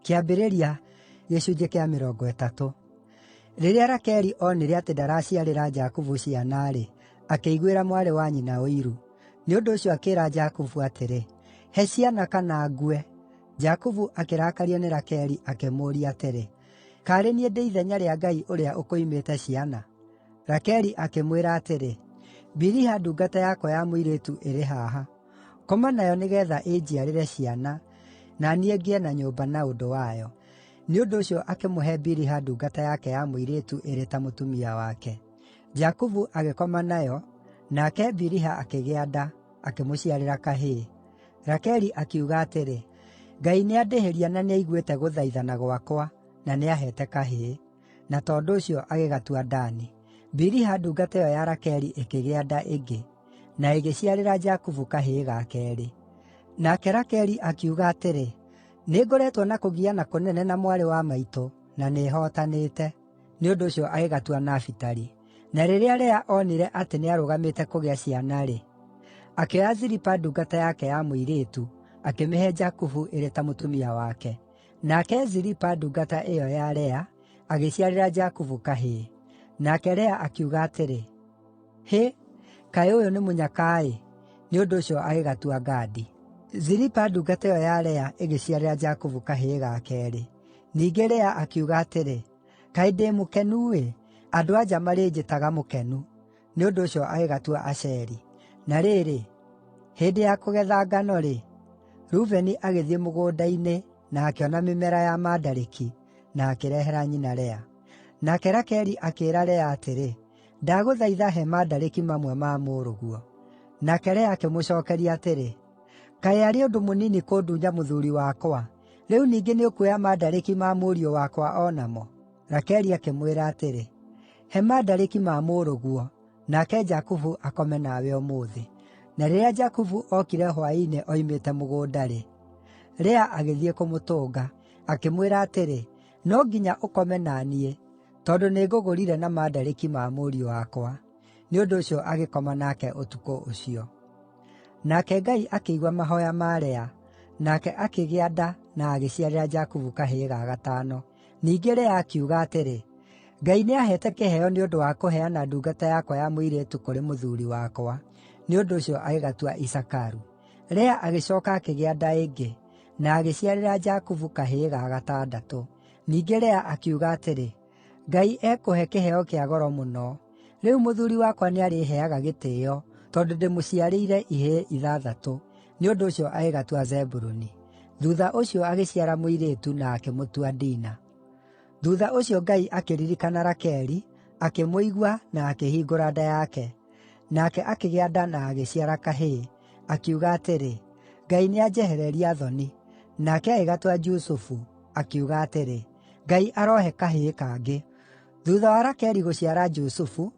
Kĩambĩrĩria gĩcunjĩ kĩa mĩrongo ĩtatũ. Rĩrĩa Rakeli oonire atĩ ndaraciarĩra Jakubu ciana-rĩ, akĩiguĩra mwarĩ wa nyina ũiru; nĩ ũndũ ũcio akĩĩra Jakubu atĩrĩ, “He ciana kana ngue!” Jakubu akĩrakario nĩ Rakeli akĩmũũria atĩrĩ, “Kaarĩ niĩ ndĩ ithenya rĩa Ngai ũrĩa ũkũimĩte ciana?” Rakeli akĩmwĩra atĩrĩ, “Biliha ndungata yakwa ya mũirĩtu ĩrĩ haha.” Ngoma nayo nĩgeetha ĩnjiarĩre ciana, na niĩ ngĩe na nyũmba na ũndũ wayo.” Nĩ ũndũ ũcio akĩmũhe Biliha ndungata yake ya mũirĩtu ĩrĩ ta mũtumia wake. Jakubu agĩkoma nayo, nake Biliha akĩgĩa nda, akĩmũciarĩra kahĩĩ. Rakeli akiuga atĩrĩ, “Ngai nĩandĩhĩria na nĩaiguĩte gũthaithana gwakwa, na nĩaheete kahĩĩ.” na tondũ ũcio agĩgatua Dani. Biliha ndungata ĩyo ya Rakeli ĩkĩgĩa nda ĩngĩ, na ĩgĩciarĩra Jakubu kahĩĩ ga keerĩ. Nake Rakeli akiuga atĩrĩ, “Nĩngoretwo na kũgiana kũnene na mwarĩ wa maitũ, na nĩhootanĩte.” Nĩ ũndũ ũcio agĩgatua Nafitali. Na rĩrĩa Lea oonire atĩ nĩarũgamĩte kũgĩa ciana-rĩ, akĩoya Zilipa ndungata yake ya mũirĩtu, akĩmĩhe Jakubu ĩrĩ ta mũtumia wake. Nake Zilipa ndungata ĩyo ya Lea agĩciarĩra Jakubu kahĩĩ. Nake Lea akiuga atĩrĩ, “Hĩ! Kaĩ ũyũ nĩ mũnyaka-ĩ!” Nĩ ũndũ ũcio agĩgatua Gadi. Zilipa ndungata ĩyo ya Lea ĩgĩciarĩra Jakubu kahĩĩ ga keerĩ. Ningĩ Lea akiuga atĩrĩ, “Kaĩ ndĩ mũkenu-ĩ! Andũ-a-nja marĩnjĩtaga mũkenu.” Nĩ ũndũ ũcio agĩgatua Asheri. Na rĩrĩ, hĩndĩ ya kũgetha ngano-rĩ, Rubeni agĩthiĩ mũgũnda-inĩ na akĩona mĩmera ya mandarĩki, na akĩrehera nyina Lea. Nake Rakeli akĩĩra Lea atĩrĩ, “Ndagũthaitha he mandarĩki mamwe ma mũrũguo.” Nake Lea akĩmũcookeria atĩrĩ, “Kaĩ arĩ ũndũ mũnini kũndunya mũthuuri wakwa? Rĩu ningĩ nĩũkuoya mandarĩki ma mũriũ wakwa o namo?” Rakeli akĩmwĩra atĩrĩ, “He mandarĩki ma mũrũguo, nake Jakubu akome nawe ũmũthĩ.” Na rĩrĩa Jakubu ookire hwaĩ-inĩ oimĩte mũgũnda-rĩ, Lea agĩthiĩ kũmũtũnga, akĩmwĩra atĩrĩ, “No nginya ũkome na niĩ, tondũ nĩngũgũrire na mandarĩki ma mũriũ wakwa.” Nĩ ũndũ ũcio agĩkoma nake ũtukũ ũcio. Nake Ngai akĩigua mahooya ma Lea, nake akĩgĩa nda na agĩciarĩra Jakubu kahĩĩ ga gatano. Ningĩ Lea akiuga atĩrĩ, “Ngai nĩaheete kĩheo nĩ ũndũ wa kũheana ndungata yakwa ya mũirĩtu kũrĩ mũthuuri wakwa.” Nĩ ũndũ ũcio agĩgatua Isakaru. Lea agĩcooka akĩgĩa nda ĩngĩ, na agĩciarĩra Jakubu kahĩĩ ga gatandatũ. Ningĩ Lea akiuga atĩrĩ, “Ngai ekũhe kĩheo kĩa goro mũno. Rĩu mũthuuri wakwa nĩarĩheeaga gĩtĩĩo, tondũ ndĩmũciarĩire ihĩĩ ithathatũ.” Nĩ ũndũ ũcio agĩgatua Zebuluni. Thuutha ũcio agĩciara mũirĩtu na akĩmũtua Dina. Thuutha ũcio Ngai akĩririkana Rakeli, akĩmũigua na akĩhingũra nda yake. Nake akĩgĩa nda na agĩciara kahĩĩ, akiuga atĩrĩ, “Ngai nĩanjehereria thoni.” Nake agĩgatua Jusufu, akiuga atĩrĩ, “Ngai arohe kahĩĩ kangĩ.” Thuutha wa Rakeli gũciara Jusufu,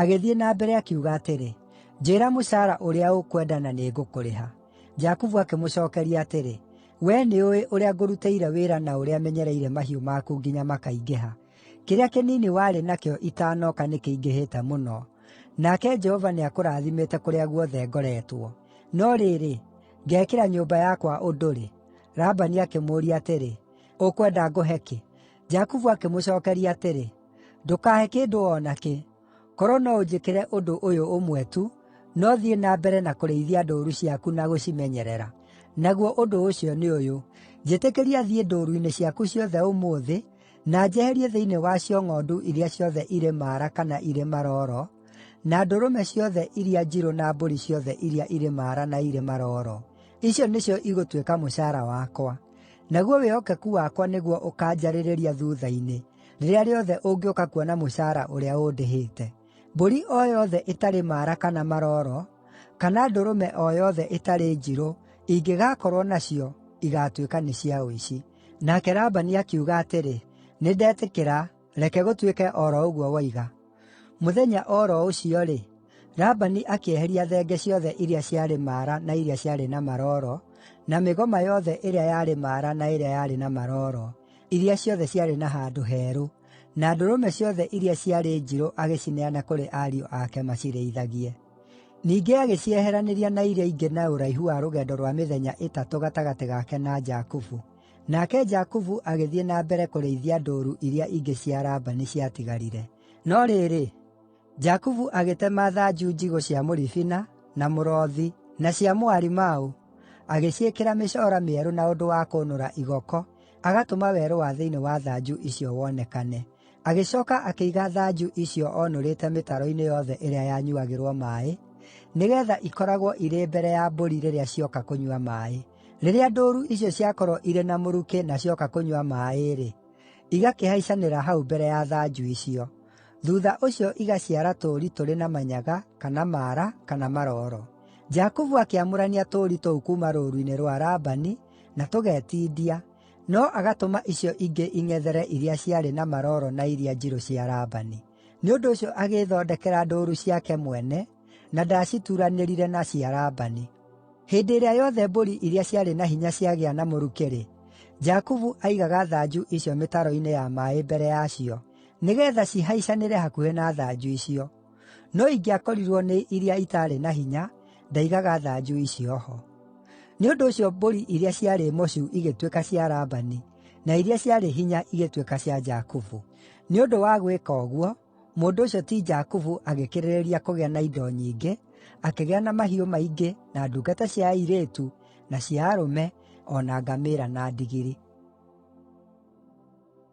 Agĩthiĩ na mbere, akiuga atĩrĩ, “Njĩĩra mũcaara ũrĩa ũkwenda na nĩngũkũrĩha.” Jakubu akĩmũcookeria atĩrĩ, “Wee nĩũũĩ ũrĩa ngũrutĩire wĩra na ũrĩa menyereire mahiũ maku nginya makaingĩha. Kĩrĩa kĩnini warĩ nakĩo itaanoka nĩkĩingĩhĩte mũno, nake Jehova nĩakũrathimĩte kũrĩa guothe ngoretwo. No rĩrĩ, ngeekĩra nyũmba yakwa ũndũ rĩ?” Labani akĩmũũria atĩrĩ, “Ũkwenda ngũhe kĩ?” Jakubu akĩmũcookeria atĩrĩ, Ndũkaahe kĩndũ o na kĩ, korwo no ũnjĩkĩre ũndũ ũyũ ũmwe tu, no thiĩ na mbere na kũrĩithia ndũũru ciaku na gũcimenyerera. Naguo ũndũ ũcio nĩ ũyũ: Njĩtĩkĩria thiĩ ndũũru-inĩ ciaku ciothe ũmũthĩ, na njeherie thĩinĩ wacio ng'ondu iria ciothe irĩ maara kana irĩ marooro, na ndũrũme ciothe iria njirũ na mbũri ciothe iria irĩ maara na irĩ marooro. Icio nĩcio igũtuĩka mũcaara wakwa. Naguo wĩhokeku wakwa nĩguo ũkaanjarĩrĩria thuutha-inĩ.” rĩrĩa rĩothe ũngĩũka kuona mũcaara ũrĩa ũndĩhĩte. Mbũri o yothe ĩtarĩ maara kana maroro, kana ndũrũme o yothe ĩtarĩ njirũ ingĩgakorwo nacio, igaatuĩka nĩ cia ũici.” Nake Labani akiuga atĩrĩ, “Nĩndetĩkĩra, reke gũtuĩke o ro ũguo woiga.” Mũthenya o ro ũcio-rĩ, Labani akĩeheria thenge ciothe iria ciarĩ maara na iria ciarĩ na maroro, na mĩgoma yothe ĩrĩa yarĩ maara na ĩrĩa yarĩ na maroro. iria ciothe ciarĩ na handũ herũ, na ndũrũme ciothe iria ciarĩ njirũ agĩcineana kũrĩ ariũ ake macirĩithagie. Ningĩ agĩcieheranĩria na iria ingĩ na ũraihu wa rũgendo rwa mĩthenya ĩtatũ gatagatĩ gake na Jakubu. Nake Jakubu agĩthiĩ na mbere kũrĩithia ndũũru iria ingĩ cia Labani ciatigarire. No rĩrĩ, Jakubu agĩtema thanju njigũ cia mũribina, na mũrothi, na cia mũarimaũ, agĩciĩkĩra mĩcoora mĩerũ na ũndũ wa kũnũra igoko, agatũma werũ wa thĩinĩ wa thanju icio wonekane. Agĩcooka akĩiga thanju icio oonũrĩte mĩtaro-inĩ yothe ĩrĩa yanyuuagĩrwo maaĩ, nĩgeetha ikoragwo irĩ mbere ya mbũri rĩrĩa cioka kũnyua maaĩ. Rĩrĩa ndũũru icio ciakorwo irĩ na mũrukĩ na cioka kũnyua maaĩ-rĩ, igakĩhaicanĩra hau mbere ya thanju icio. Thuutha ũcio igaciara tũũri tũrĩ na manyaga, kana maara, kana marooro. Jakubu akĩamũrania tũũri tũu kuuma rũũru-inĩ rwa Labani, na tũgetindia, no agatũma icio ingĩ ing'ethere iria ciarĩ na marooro na iria njirũ cia Labani. Nĩ ũndũ ũcio agĩĩthondekera ndũũru ciake mwene, na ndaacituranĩrire na cia Labani. Hĩndĩ ĩrĩa yothe mbũri iria ciarĩ na hinya ciagĩa na mũrukĩ-rĩ, Jakubu aaigaga thanju icio mĩtaro-inĩ ya maaĩ mbere yacio, nĩgeetha cihaicanĩre hakuhĩ na thanju icio. No ingĩakorirwo nĩ iria itaarĩ na hinya, ndaigaga thanju icio ho.” Nĩ ũndũ ũcio mbũri iria ciarĩ mocu igĩtuĩka cia Labani, na iria ciarĩ hinya igĩtuĩka cia Jakubu. Nĩ ũndũ wa gwĩka ũguo, mũndũ ũcio ti Jakubu agĩkĩrĩrĩria kũgĩa na indo nyingĩ, akĩgĩa na mahiũ maingĩ, na ndungata cia airĩtu, na cia arũme, o na ngamĩĩra na ndigiri.